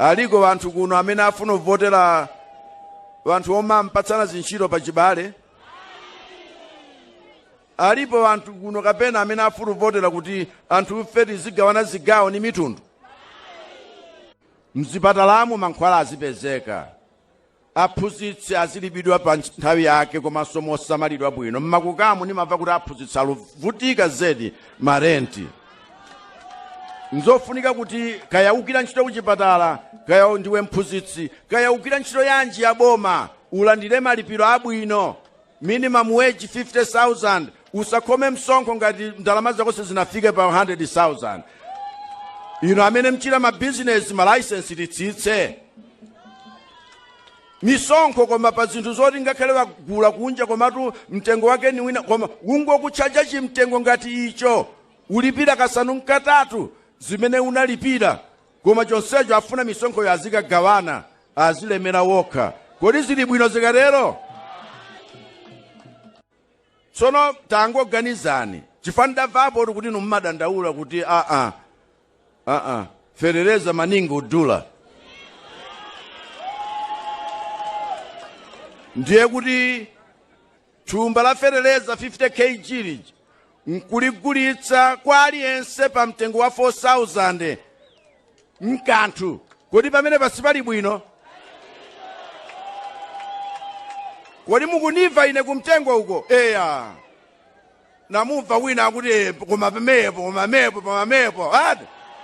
aliko wanthu kuno amene afuna kuvotera wanthu omampatsana zintchito pa chibale alipo wanthu kuno kapena amene afuna kuvotera kuti anthu ife tizigawana zigawo ni mitundu mzipatalamu mankhwala azipezeka aphunzitsi azilipidwa pa nthawi yake komanso mosamalidwa bwino mmakukamu nimamva kuti aphunzitsi aluvutika zedi marenti nzofunika kuti kaya ukira ntchito kuchipatala kaya ndiwe mphunzitsi kaya ukira ntchito yanji ya boma ulandire malipiro abwino Minimum wage 50,000 usakhome msonkho ngati ndalama zako sizinafike pa 100,000 inu amene mchita ma business ma license titsitse misonkho koma pa zinthu zoti ngakhale wagula kunja komatu mtengo wake ni wina koma ungokutchaja chimtengo ngati icho ulipira kasanu mkatatu zimene unalipira Koma chonsecho afuna misonkhoyo azikagawana, azilemera wokha. Kodi zili bwino zikatero? Tsono tangoganizani, chifukwa ndamvapo kuti inu mumadandaula kuti aa, aa, ferereza maningo udula. Ndiye kuti Thumba la feteleza 50 KG lija nkuligulitsa kwa aliyense pa mtengo wa 4000 mkanthu kodi pamene pasipali bwino kodi mukuniva ine kumtengo uko eya namumva wina akuti "Eh, koma pamepo koma mepo pamamepo ati